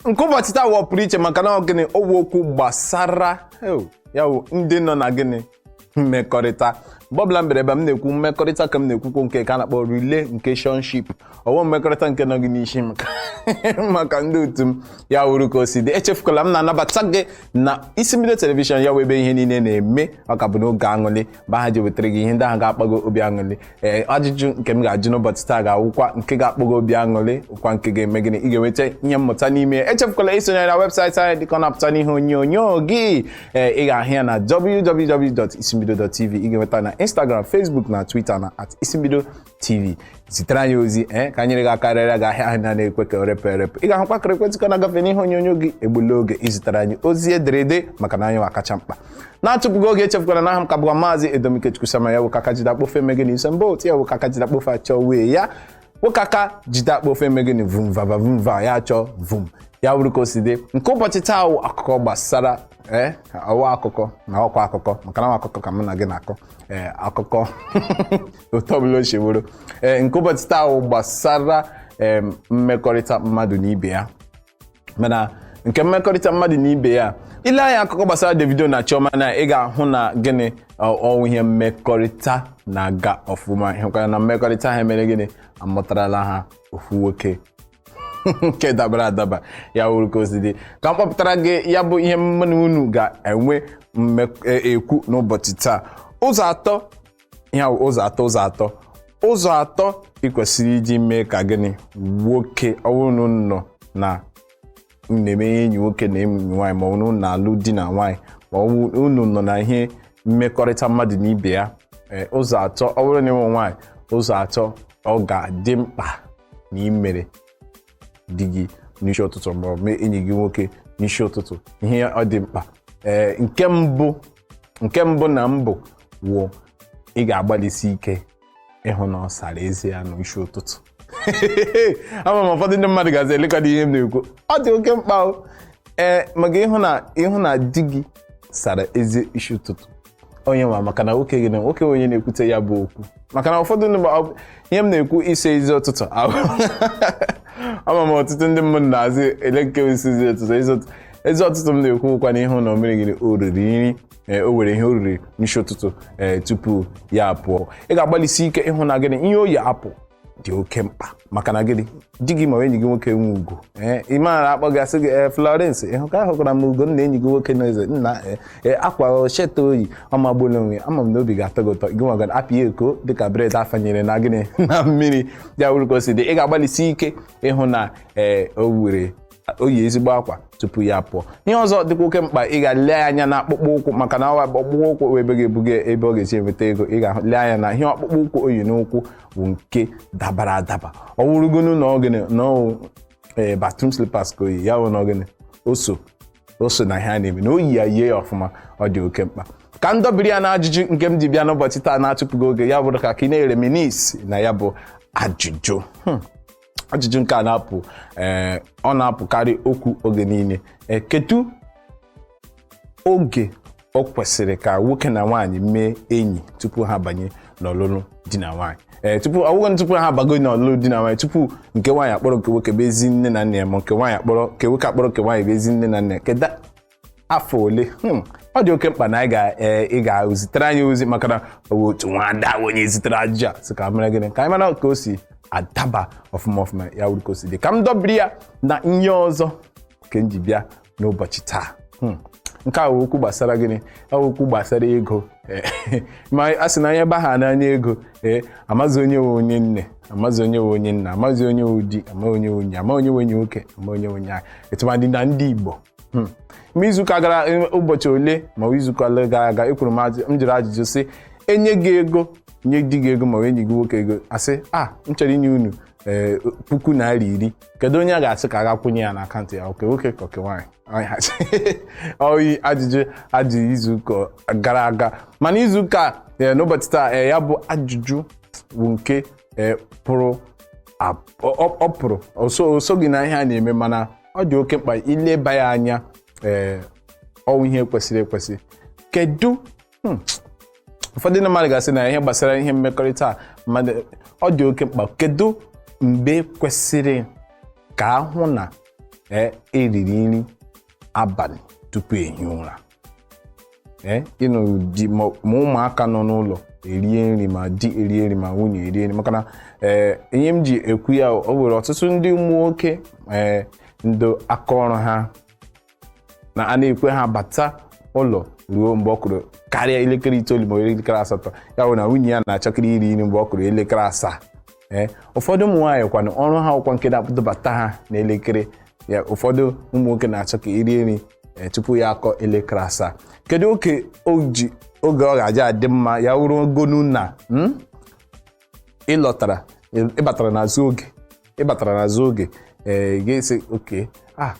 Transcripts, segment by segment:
nke ụbọchị taa wụ ọpụrụ iche maka na gịnị ọ wụ okwu gbasara ya wụ ndị nọ na gịnị mmekọrịta mgbe ọbụla m bịara ebe m na-ekwu mmekọrịta ka m na-ekwukwo nke ka a na-akpọ relationship ọ wụ mmekọrịta nke nọ gị n'isi maka ndị otu m ya wuru ka o si dị echefukwala m na-anabata gị na isimbido telivishọn ya wụ ebe ihe niile na-eme ọ ka bụ n'oge aṅụlị mgbe ha ji wetara gị ihe ndị ahụ ga-akpa gị obi aṅụrị ee ajụjụ nke m ga-ajụ n'ụbọchị taa ga-awụkwa nke ga-akpa gị obi aṅụrị wụkwa nke ga-eme gịnị ị ga-enweta ihe mmụta n'ime ya echefukwala isonyere na webụsaịtị anyị dịka ọ na-apụta n'ihe onyonyo gị ee ị ga-ahụ ya na www.isimbido.tv ị ga-enweta na Instagram Facebook na Twitter na at isimbido tv zitere anyị ozi ee ka anyị gị akarịrịa gị ahịa ahụ na na-ekwe ka erepụ erepụ ị ga-ahụkwa akara ekwentị ka na-agafe n'ihe onyonyo gị egbula oge izitere anyị ozi ederede maka na anyị wa kacha mkpa na-atụpụghị oge echefukwala na aha m ka bụkwa maazị edomikechukwu sama ya wụka aka jide akpofe eme gịnị ise mba otu ya wụka aka jide akpofe achọ wee ya wụka aka jide akpofe eme gịnị vum vava vum va ya achọ vum ya wuru ka o si dị nke ụbọchị taa wụ akụkọ gbasara ee ọ wụ akụkọ na ọkwa akụkọ maka na ọ wụ akụkọ ka mụ na gị na-akọ ee akụkọ otu ọbụla o si bụrụ ee nke ụbọchị taa wụ gbasara em, mmekọrịta mmadụ na ibe ya mana nke mmekọrịta mmadụ na ibe ya i lee anya akụkọ gbasara Davido na Chioma na ị ga-ahụ na gịnị ọ- ọ wụ ihe mmekọrịta na-aga ọfụma ịhụkwara na mmekọrịta ha mere gịnị amụtarala ha ofu nwoke nke dabara adaba ya wuru ka o si dị ka m kpọpụtara gị ya bụ ihe mụ na unu ga-enwe mme- e- ekwu n'ụbọchị taa ụzọ atọ ihe ahụ ụzọ atọ ụzọ atọ ụzọ atọ ị kwesịrị iji mee ka gịnị nwoke ọ bụrụ na unu nọ na unu na-eme ihe enyi nwoke na enyi nwaanyị ma ọ bụrụ na unu na-alụ di na nwaanyị ma ọ bụrụ na unu nọ na ihe mmekọrịta mmadụ na ibe ya ee, ụzọ atọ ọ bụrụ na ị wụ nwaanyị ụzọ atọ ọ ga-adị mkpa na imere di gị n'isi ụtụtụ ma ọ bụ mee enyi gị nwoke n'isi ụtụtụ ihe ọ dị mkpa ee nke mbụ nke mbụ na mbụ wụ ị ga-agbalịsi ike ịhụ na ọ sara ezi ya n'isi ụtụtụ ama m ụfọdụ ndị mmadụ gazi elekọta ihe m na-ekwu ọ dị oke mkpa o ee maka ịhụ na ịhụ na di gị sara ezi isi ụtụtụ onye nwa maka na nwoke gị na nwoke onye na-ekwute ya bụ okwu maka na ụfọdụ ndị ma- ọ- ihe m na-ekwu ịsa ezi ụtụtụ ama m ọtụtụ ndị mmadụ na-asị ele nke ịsa ezi ụtụtụ ezi ụtụtụ ezi ụtụtụ m na-ekwukwa na ịhụ na o mere gịnị o riri nri ee, o nwere ihe o riri n'isi ụtụtụ ee, tupu ya apụọ ị ga-agbalịsi ike ịhụ na gịnị ihe o yi apụ dị oke mkpa maka na gịnị di gị ma enyi gị nwoke nwe ugo ee ị maara a kpọọ gị asị gị ee Florence ịhụ ka ahụkwara m Ugonna enyi gị nwoke na ezi nna ee ee akwa shirt a o yi ọ magbuola onwe ama m na obi ga-atọ gị ụtọ gị nwa gara apị ya eko dịka bred a fanyere na gịnị na mmiri ya wuru ka o si dị ị ga-agbalịsi ike ịhụ na ee o nwere o yi ezigbo akwa tupu ya pụọ ihe ọzọ dịkwa oke mkpa ị ga-ele anya na akpụkpọ ụkwụ maka na ọ wụ akpụkpọ ụkwụ wụ ebe ga-ebuga ebe ọ ga-esi enweta ego ị ga-ele anya na ihe akpụkpọ ụkwụ o yi n'ụkwụ bụ nke dabara adaba ọ wụrụgonu na ọ gịnị na ọ ee bathroom slippers ka o yi ya bụ na ọ gịnị o so o so na ihe a na-eme na o yi ya yie ya ọfụma ọ dị oke mkpa ka m dọbiri ya na ajụjụ nke m ji bịa n'ụbọchị taa na-atụfughị oge ya bụrụ ka ka ị na-ereminisce na ya bụ ajụjụ Hmm. ajụjụ nke a na-apụ ee ọ na-apụkarị okwu oge niile ee kedu oge o kwesịrị ka nwoke na nwaanyị mee enyi tupu ha banye n'ọlụlụ di na nwaanyị ee tupu ọ wụ gịnị tupu ha abago n'ọlụlụ di na nwaanyị tupu nke nwaanyị akpọrọ nke nwoke bịa zi nne na nna ya ma nke nwaanyị akpọrọ nke nwoke akpọrọ nke nwaanyị bịa zi nne na nna ya kedu afọ ole Hmm, ọ dị oke mkpa na anyị ga ee, ị ga-ezitere anyị ozi maka na ọ bụ otu nwada bụ onye zitere ajụjụ a sị ka mere gịnị ka anyị mara ka o si adaba ọfụma ọfụma ya wụrụ ka o si dị ka m dọbiri ya na ihe ọzọ nke m ji bịa n'ụbọchị taa Hmm. nke a wụ okwu gbasara gịnị ọ wụ okwu gbasara ego Eh, ma a sị na onye baha n'anya ego ee amazị onye wụ onye nne amazị onye wụ onye nna amazị onye wụ di ama onye wụ onye ama onye wụ onye nwoke ama onye wụ onye nwaanyị tụmadị na ndị Igbo Hmm. ma izuụka gara eh, ụbọchị ole ma ọ bụ izuụka ole gara aga ekwuru m ajụ- m jụrụ ajụjụ sị e nye gị ego nye di gị ego ma ọ bụ enyi gị nwoke ego a sị a m chọrọ inye unu eh, puku naira iri kedu onye a ga-asị ka a ga-akwụnye ya n'akaụntụ ya ọ nke nwoke ka ọ nke nwaanyị Anyị ha sị. ọ wụ ajụjụ a jụrụ izuụka gara aga mana izuụka eh, n'ụbọchị taa eh, ya bụ ajụjụ bụ nke eh, pụrụ ab- ọ ọ- ọ pụrụ o so- o soghị na ihe a na-eme mana ọ dị oke mkpa ileba ya anya ee ọ wụ ihe kwesịrị ekwesị kedu hmm, ụfọdụ ndị mmadụ ga-asị na ihe gbasara ihe mmekọrịta a mmadụ ọ dị oke mkpa kedu mgbe kwesịrị ka a hụ na ee e riri nri abalị tupu e hie ụra ee ị nụrụ di ma ma ụmụaka nọ n'ụlọ erie nri ma di erie nri ma nwunye erie nri maka na ee ihe m ji ekwu ya o nwere ọtụtụ ndị ụmụ nwoke ee ndị aka ọrụ ha na a na-ekwe ha bata ụlọ ruo mgbe ọ kụrụ karịa elekere itoolu ma ọ bụ elekere asatọ ya bụ na nwunye ya na-achọkarị iri nri mgbe ọ kụrụ elekere asaa ee ụfọdụ ụmụ nwaanyị kwanụ ọrụ ha wụkwa nke na-akpọbata ha n'elekere ya ụfọdụ ụmụ nwoke na-achọ ka e rie nri ee, tupu ya akụọ elekere asaa kedu oke o ji oge ọ ga-eji adị mma ya wụrụgonu na mm? ị lọtara ị batara n'azụ oge ị batara n'azụ oge ee gị sị okay ah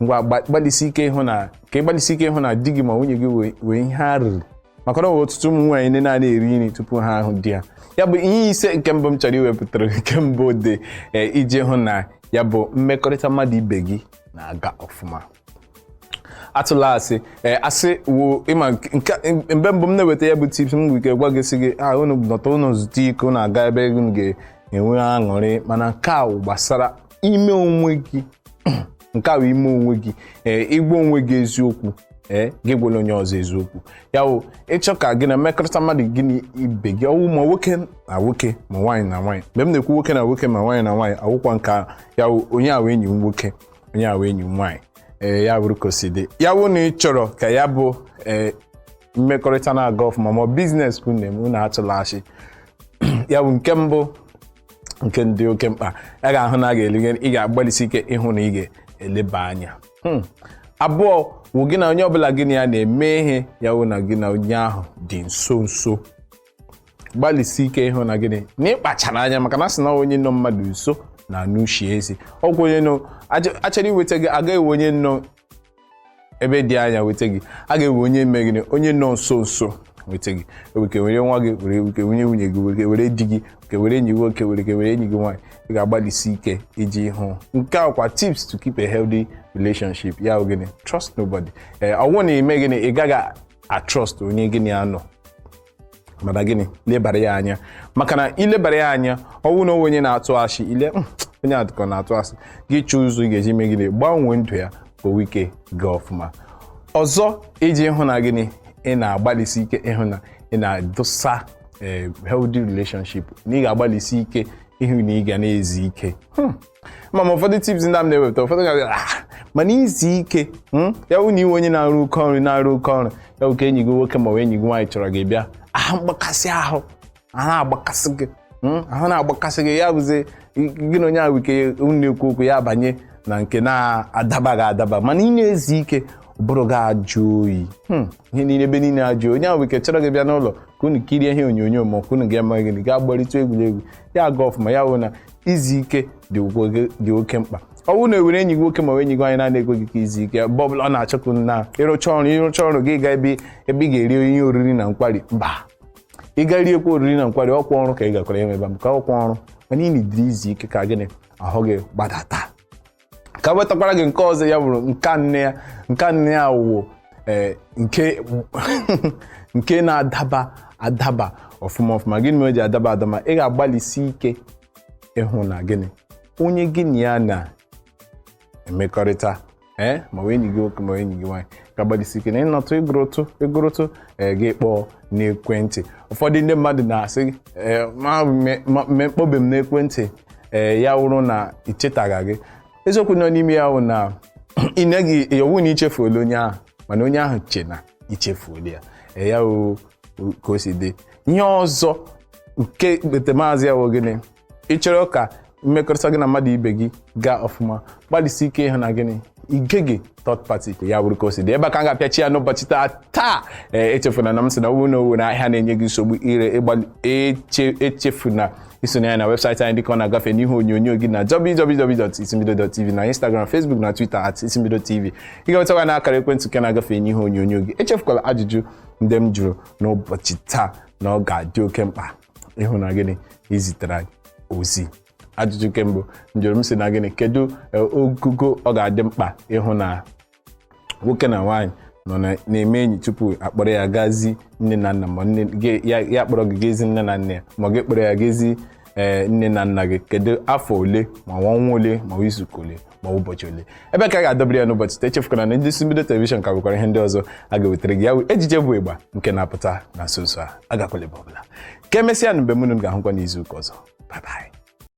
ngwa gba- gbalịsi ike ịhụ na ka ị gbalịsi ike ịhụ na di gị ma nwunye gị wee- wee ihe ha riri maka na ọ bụ ọtụtụ ụmụ nwaanyị ndị na-ana eri nri tupu ha ahụ di ya ya bụ ihe ise nke mbụ m chọrọ iwepụtara nke mbụ dị e, iji hụ na ya bụ mmekọrịta mmadụ ibe gị na-aga ọfụma atụla asị ee asị wo ịma nke- nke mgbe mbụ m na-eweta ya bụ tips m nwere ike gwa gị sị gị a unu nọta unu zute ike unu aga ebe unu ga-enwe aṅụrị mana nke a wụ gbasara ime onwe gị nke a bụ ime onwe gị ee ịgwa onwe gị eziokwu ee gị gwara onye ọzọ eziokwu ya bụ ị chọọ ka gị na mmekọrịta mmadụ gị na ibe gị ọ wụ ma nwoke na nwoke ma nwaanyị na nwaanyị mgbe m na-ekwu nwoke na nwoke ma nwaanyị na nwaanyị awụkwa nke a ya bụ onye a wụ enyi m nwoke onye a wụ enyi m nwaanyị ee ya bụrụ ka o si dị ya bụ na ị chọrọ ka ya bụ ee mmekọrịta na-aga ọfụma ma biznes ka unu na-eme unu atụla asị ya bụ nke mbụ nke dị oke mkpa ya ga-ahụ na a ga-elige ị ga-agbalịsi ike ịhụ na ị ga-eleba anya Hmm. abụọ wụ gị na onye ọbụla gị na ya na-eme ihe ya wụ na gị na onye ahụ dị nso nso gbalịsi ike ịhụ na gịnị na ịkpachara anya maka na a sị na onye nọ mmadụ nso na-anụ ushi eze ọ wụ onye nọ aja- a chọrọ iweta gị a gaghị ewe onye nọ ebe dị anya weta gị a ga-ewe onye mee gịnị onye nọ nso nso weta gị e we ike were nwa gị were e we ike were nwunye gị were were di gị we ike were enyi gị nwoke were ike were enyi gị nwaanyị ị ga-agbalịsi ike iji hụ nke a kwa tips to keep a healthy relationship ya bụ gịnị trust nobody ee ọ wụ na ị mee gịnị ị gaghị atrust onye gị na ya nọ mana gịnị lebara ya anya maka na i lebara ya anya ọ wụ na onye na-atụ asị ị lee hmm, onye a dị ka ọ na-atụ asị gị chọọ ụzọ ị ga-eji mee gịnị gbanwee ndụ ya ka o wee ike gaa ọfụma ọzọ iji hụ na gịnị ị na-agbalịsi ike ịhụ na ị na-edosa eh, healthy relationship na ị ga-agbalịsi ike ịhụ na ị ga na-ezi ike hmm. ma ma ụfọdụ tips ndị a m na-ewepụta ụfọdụ ga ah, mana izi ike hmm? ya wụ na ị wụ onye na-arụ oke ọrụ na-arụ oke ọrụ ya wụ ka enyi gị nwoke ma ọ bụ enyi gị nwaanyị chọrọ gị bịa ahụ mgbakasị ahụ ahụ na-agbakasị gị hmm? ahụ na-agbakasị gị ya bụzi gị na onye ahụ we ike na-ekwu okwu ya banye na nke na-adabaghị adaba mana ị na-ezi ike ụbụrụ gị ajụ oyi hmm, ihe niile ebe niile ajụ onye ahụ we ike chọrọ gị bịa n'ụlọ ka unu kirie ihe onyonyo ma ọ ka unu ga-eme gịnị gaa gbarịta egwuregwu ya aga ọfụma ya wụ na izi ike dị ukwu- dị oke mkpa ọ bụrụ na e were enyi gị nwoke ma ọ bụ enyi gị nwaanyị na-ana ekwe gị ka i zie ike mgbe ọbụla ọ na-achọkwu na ịrụcha ọrụ ịrụcha ọrụ gị gaa ebe ebe ị ga-eri ihe oriri na nkwari mba ị gaa riekwa oriri na nkwari ọ kwa ọrụ ka ị gakwara eme ebe maka ọ kwa ọrụ mana ị needịrị izu ike ka gịnị ahụ gị gbadata ka m wetakwara gị nke ọzọ ya bụrụ nke anọ ya nke anọ ya wụ eh, nke nke na-adaba adaba ọfụma ọfụma gịnị mere o ji adaba adaba ị ga-agbalịsi ike ịhụ na gịnị onye gị na ya na-emekọrịta ee ma ọ wụ enyi gị nwoke ma ọ wụ enyi gị nwaanyị ga-agbalịsi ike na ịnọtụ ịgụrụtụ ịgụrụtụ ee gị kpọọ n'ekwentị ụfọdụ ndị mmadụ na-asị ee ma me- ma- me- kpọbe m n'ekwentị ee ya wụrụ na ichetaga gị eziokwu nọ n'ime ya wụ na ị naghị ọ wụ na i chefuola onye ahụ mana onye ahụ che na i chefuola ya ee ya wụ ka o si dị ihe ọzọ nke ekpetemazụ ya wụ gịnị ị chọrọ ka mmekọrịta gị na mmadụ ibe gị gaa ọfụma gbalịsi ike ịhụ na gịnị i geghị third party ya bụrụ ka o si dị ebe a ka m ga-apịachi ya n'ụbọchị taa taa ee echefuna na m sị na ọ wụ na ọ wụ na ahịa na-enye gị nsogbu ire ịgbalị eche echefuna isonye anyị na webụsaịtị anyị dịka ọ na-agafe n'ihe onyonyo gị na www.isimbido.tv na Instagram Facebook na Twitter at isimbido tv ị ga-enwetakwa na akara ekwentị nke na-agafe n'ihe onyonyo gị echefukwala ajụjụ ndị m jụrụ n'ụbọchị taa na ọ ga-adị oke mkpa ịhụ na gịnị i zitere anyị ozi ajụjụ nke mbụ m jụrụ m sị na gịnị kedu eh, ogogo ọ ga-adị mkpa ịhụ na nwoke na nwaanyị nọ na- na-eme enyi tupu a kpọrọ ya ga zi nne na nna ma nne gị- ya ya kpọrọ gị ga ezi nne na nna ya ma gị kpọrọ ya ga ezi eh, nne na nna gị kedu afọ ole ma ọnwa ole ma izuụka ole ma ụbọchị ole ebe a ka a ga-adọbiri ya n'ụbọchị taa echefukwana na ndị isi mbido telivishọn ka nwekwara ihe ndị ọzọ a ga-ewetara gị ya wụ ejije bụ ịgba nke na-apụta na nso nso a agakwala ebe ọbụla ka emesịanụ mgbe mụ na unu ga-ahụkwa n'izu ụka ọzọ bye bye